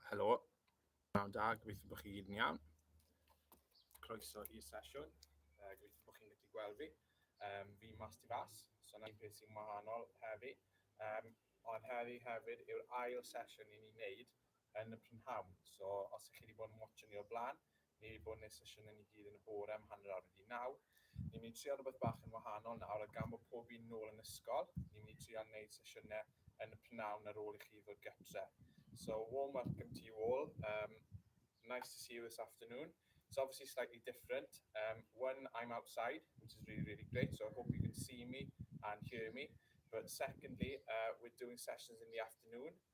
Helo, nawn da, gobeithio bod chi gyd yn iawn. Croeso i'r sesiwn, uh, gobeithio bod chi'n gallu gweld fi. Um, fi mas di fas, so yna un peth sy'n wahanol heddi. Um, ond heddi hefyd yw'r ail sesiwn i ni'n neud yn y prynhawn. So os ych chi wedi bod yn watch ni o'r blaen, Ni fu neu'r sesiynau ni gyd yn y bore am hanner awr wedi naw. Ni'n mynd i trial rhywbeth bach yn wahanol nawr a gan bod pob un nôl yn ysgol, ni'n mynd i trial neud sesiynau yn y p'nawn ar ôl i chi ddod gytre. So a warm welcome to you all, umm nice to see you this afternoon. It's obviously slightly different, umm one I'm outside which is really really great so I hope you can see me and hear me but secondly uh we're doing sessions in the afternoon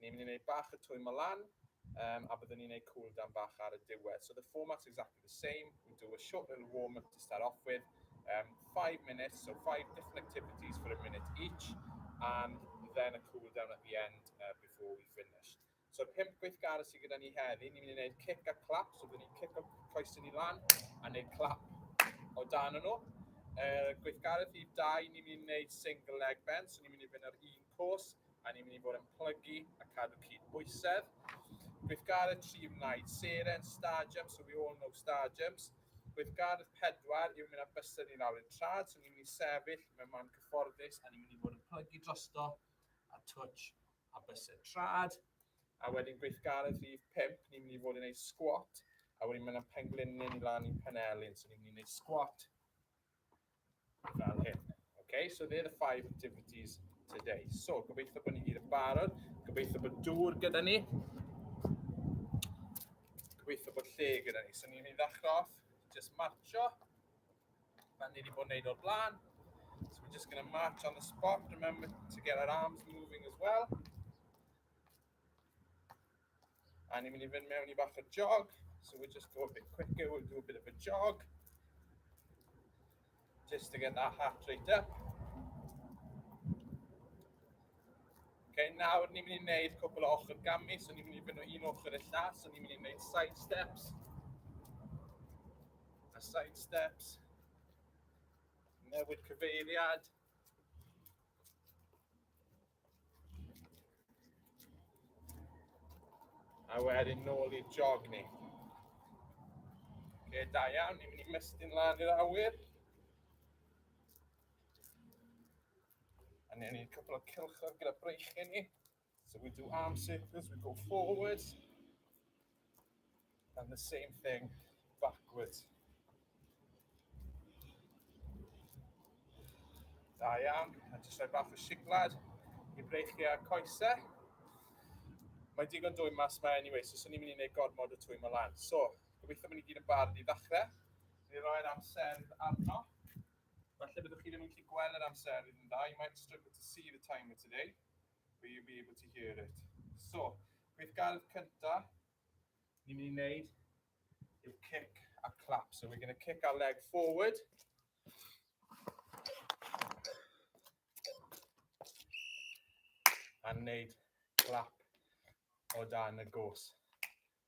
Ni'n mynd i wneud bach y twymo lan, um, a byddwn ni'n neud cool down bach ar y diwedd. So the format's exactly the same. We do a short little warm up to start off with, um, five minutes, so five different activities for a minute each, and then a cool down at the end uh, before we finish. So pimp gweithgar sydd gyda ni heddi, ni'n mynd i wneud kick a clap, so byddwn ni'n kick o coes ni lan a wneud clap o dan nhw. Uh, gweithgaredd i dau, ni'n mynd i wneud single leg bend, so ni'n mynd i fynd ar un cwrs, a ni'n mynd i fod yn plygu a cadw cyd bwysedd. Gweithgaredd tri wnaed, seren, star jumps, so we all know star jumps. Gweithgaredd pedwar yw mynd â bysedd ni lawr i'r trad, so ni'n mynd i sefyll mewn man cyfforddus a ni'n mynd i fod yn plygu drosto a twtsh a bysedd trad. A wedyn gweithgaredd rhif 5, ni'n mynd i fod yn ei squat, a wedyn mae'n pengliniau ni lan i'n penelin, so ni'n mynd i wneud squat, fel hyn. Okay, so they're the five activities today. So, gobeithio bod ni gyd yn barod, gobeithio bod dŵr gyda ni, gobeithio bod lle gyda ni. So, ni'n mynd i ddechrau off, just marcho, fel ni wedi bod yn neud o'r blaen. So, we're just going to march on the spot, remember to get our arms moving as well. A ni'n mynd i fynd mewn i bach o jog. So we'll just go a bit quicker, we'll do a bit of a jog. Just to get that heart rate up. Okay, nawr ni'n mynd i wneud cwbl o ochr gamu, so ni'n mynd i fynd o un ochr y llall, so ni'n mynd i wneud side steps. A side steps. Newid cyfeiriad. A wedyn nôl i'r jog ni. Oce, da iawn, ni'n mynd i mestyn lan i'r awyr. A ni'n ni'n cwpl o cilchor gyda breichyn ni. So we do arm circles, we go forwards. And the same thing backwards. Da iawn, a jyst rhoi bach o siglad i breichiau a'r coesau. Mae digon dwy mas mae anyway, so swn i'n mynd i wneud gormod o twy mae lan. So, gobeithio bod ni gyd yn barod i ddechrau. Ni roi'r amser arno. Felly byddwch chi ddim yn gallu gweld yr amser yn dda. You might struggle to see the timer today. Will you be able to hear it? So, gweithgaredd cynta, ni'n mynd i wneud yw kick a clap. So we're going to kick our leg forward. A wneud clap o dan y gos.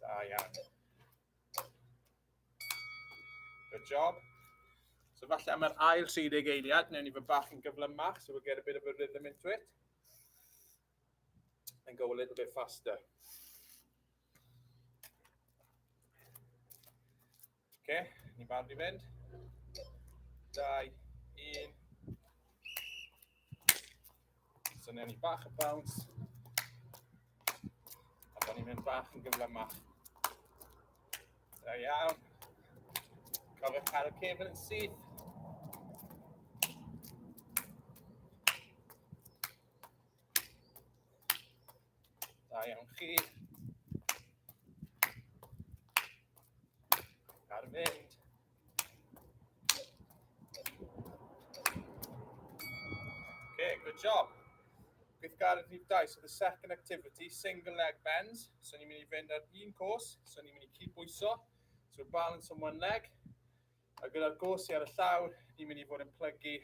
Da iawn. Good job. So falle am yr ail 30 eiliad, newn ni fy bach yn gyflymach, so we'll get a bit of a rhythm into it. And go a little bit faster. Oce, okay, ni'n barod i fynd. Dau, un. Syniad ni bach y bawns. A bod ni'n mynd bach yn gyflymach. Da iawn. Cofiwch cael y cefn yn syth. Da iawn chi. Ar fynd. Okay, good job. Gweithgaredd rhif dau, so the second activity, single leg bends. So ni'n mynd i fynd ar un cwrs, so ni'n mynd i cyd-bwyso. So balance on one leg, A gyda'r gorsi ar y llaw, ni'n mynd i fod yn plygu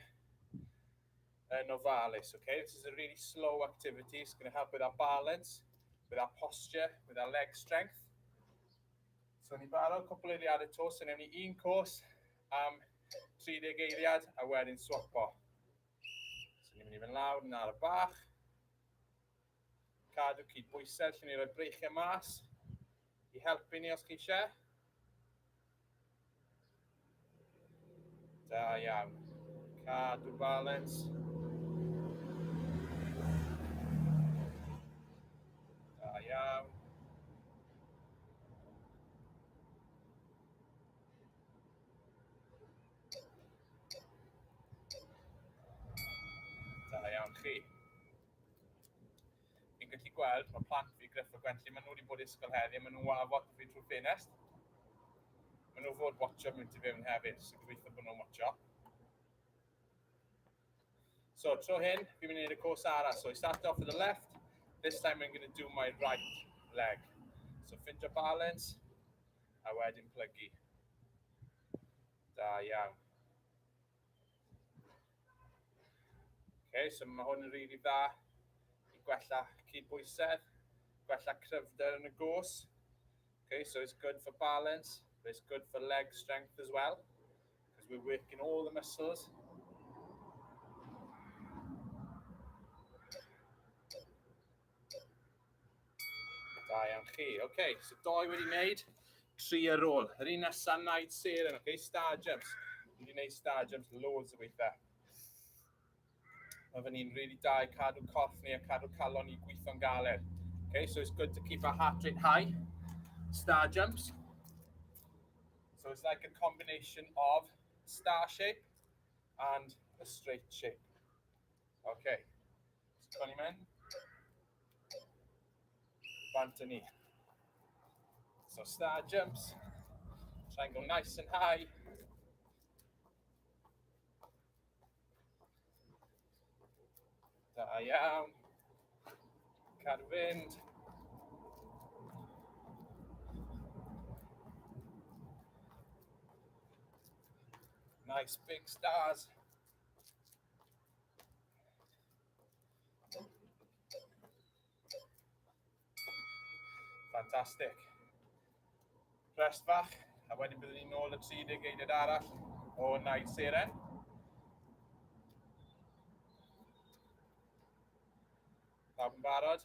yn ofalus, okay? This is a really slow activity, it's going to help with our balance, with our posture, with our leg strength. So ni'n barod cwpl eiliad y to, so newn ni un cwrs am 30 eiliad a wedyn swapo. So ni'n mynd i fynd lawr yn ar y bach. Cadw cydbwysedd, lle ni roi breichiau mas i helpu ni os chi eisiau. Da iawn. Cadw balans. Da iawn. Da iawn chi. Fi'n gallu gweld, mae plant fi, Gruff a Gwenlli, maen nhw wedi bod i ysgol heddi, maen nhw'n wafo fi trwy'r ffenest. Maen nhw fod watcho mynd i fewn hefyd, sy'n gobeithio bod nhw'n watcho. So, tro hyn, fi'n mynd i wneud y cwrs arall. So, I start off with the left, this time I'm going to do my right leg. So, ffindio balance, a wedyn plygu. Da iawn. Okay, so mae hwn yn rili really dda i gwella cydbwysedd, gwella cryfder yn y gos. Okay, so it's good for balance, but it's good for leg strength as well, because we're working all the muscles. Da iawn chi. Oce, okay, so doi wedi wneud, tri ar ôl. Yr un nesaf wneud ser yn, oce, okay, star jumps. Dwi wedi wneud star jumps loads o weithiau. Mae fyny'n rili really da i cadw corff ni a cadw calon ni gweithio'n galed. Okay, so it's good to keep our heart rate high. Star jumps. So it's like a combination of star shape and a straight shape. Oce. O'n i'n mynd. Bant yn ni. So star jumps. Try and go nice and high. Da iawn. Cadw fynd. Nice big stars. Fantastic. Rest bach, a wedyn byddwn ni'n ôl y 30 geiriad arall o Naid Seren. Pawb yn barod?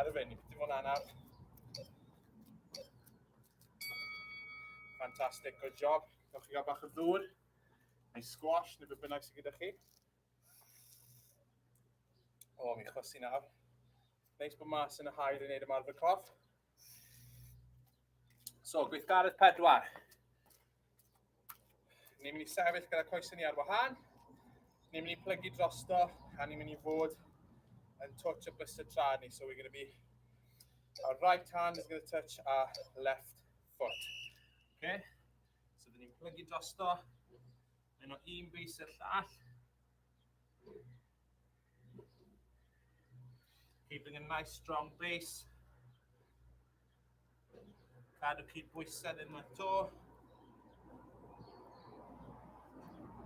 Ar y fyny, dim ond anaf. Fantastic, good job. Gawch chi gael bach o ddŵr, neu squash, neu beth bynnag sydd gyda chi. O, mi chwysu nawr. Neis bod mas yn y hael yn neud ymarfer coff. So, gweithgaredd pedwar. Ni'n mynd i sefyll gyda coes ni ar wahân. Ni'n mynd i plygu drosto a ni'n mynd i fod yn touch y blister tra ni. So we're going to be, our right hand is going to touch our left foot. Okay? So dyn ni'n plygu drosto. Yn o un bus i'r llall. Keeping a nice strong base. Cadw cyd bwysau ddim yn to.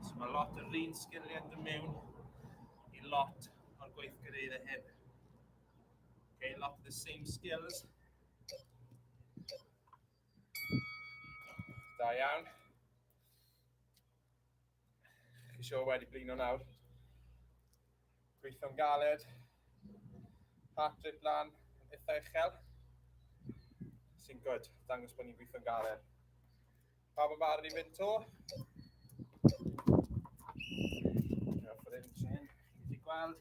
So mae lot o'r un sgiliau yn mewn i lot o'r gweithgareid y hyn. Okay, lot of the same skills. Da iawn. Chi sio wedi blino nawr. Gweithio'n galed. Heart rate lan, yn eitha uchel. Sy'n gwyd, dangos bod ni'n gweithio'n galed. Pa bod barn i fynd to? Diolch fod e'n trin. Chi wedi gweld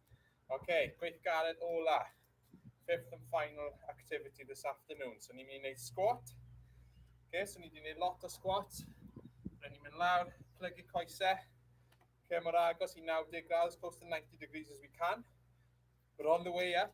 OK, gweithgaredd ola. Fifth and final activity this afternoon. So ni'n mynd i wneud squat. OK, so ni wedi wneud lot o squat. Rydyn ni'n mynd lawr, plygu coesau. OK, mor agos i 90 graus, close to 90 degrees as we can. We're on the way up.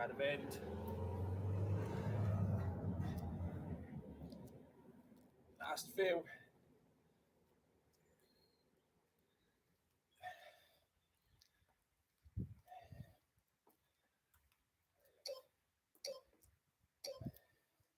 Gael mynd. Last few.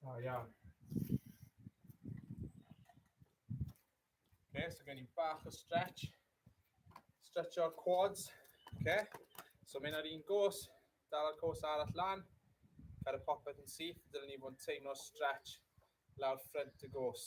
Da iawn. Okay, so gen i bach o stretch. Stretch o'r quads. Okay. So mynd ar un gos, dal y gos arall lan, cael y popeth yn syth, dylen ni fod yn teimlo stretch lawr ffrent y gos.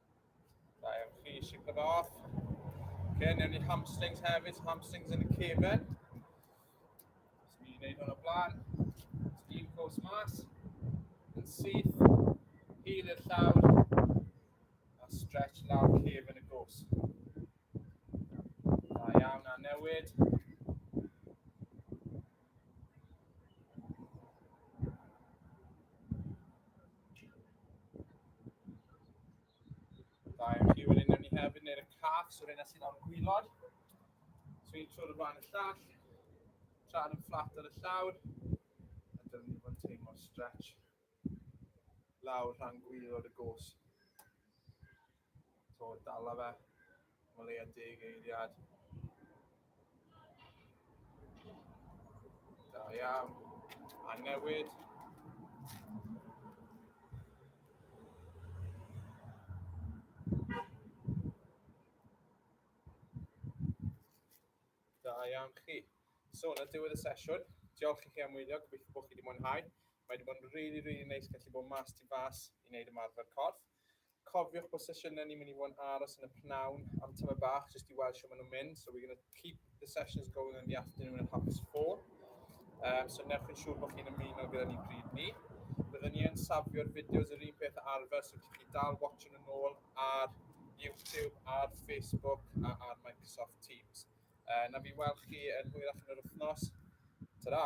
Da iawn chi, shake it off. Okay, newn ni hamstrings hefyd, so hamstrings yn y cefen. Os ni'n gwneud hwn o blaen, os ni'n cwrs mas, yn syth, hil i'r llawr, a stretch lawr cefen y gwrs. Da iawn, a newid. Da iawn chi, wedyn newn ni hefyd neu'r y cath, so rhywun sy'n o'n gwylod. So un trwy'r flaen y llall, tra'n yn fflat ar y llawr, a dyna ni fod yn teimlo'r stretch. lawr rhan gwylod y gos. To, dala fe. Mae leia deg eiliad. Da iawn. A newid. Da iawn chi. So, na diwedd y sesiwn. Diolch i chi am wylio, gobeithio bod chi wedi mwynhau. Mae wedi bod yn rili, really, rili really neis gallu bod mas tu fas i wneud ymarfer corff. Cofiwch bod sesiynau ni'n mynd i fod yn aros yn y pnawn am tyma bach, jyst i weld sio maen nhw'n mynd. So we're going to keep the sessions going in the afternoon at half past four. Um, so newch yn siŵr bod chi'n ymuno gyda ni bryd ni. Byddwn ni yn safio'r fideos yr un peth arfer, so chi'n chi dal watching yn ôl ar YouTube, ar Facebook a ar Microsoft Teams. Uh, na fi weld chi yn hwyrach yn yr wythnos. Ta-ra!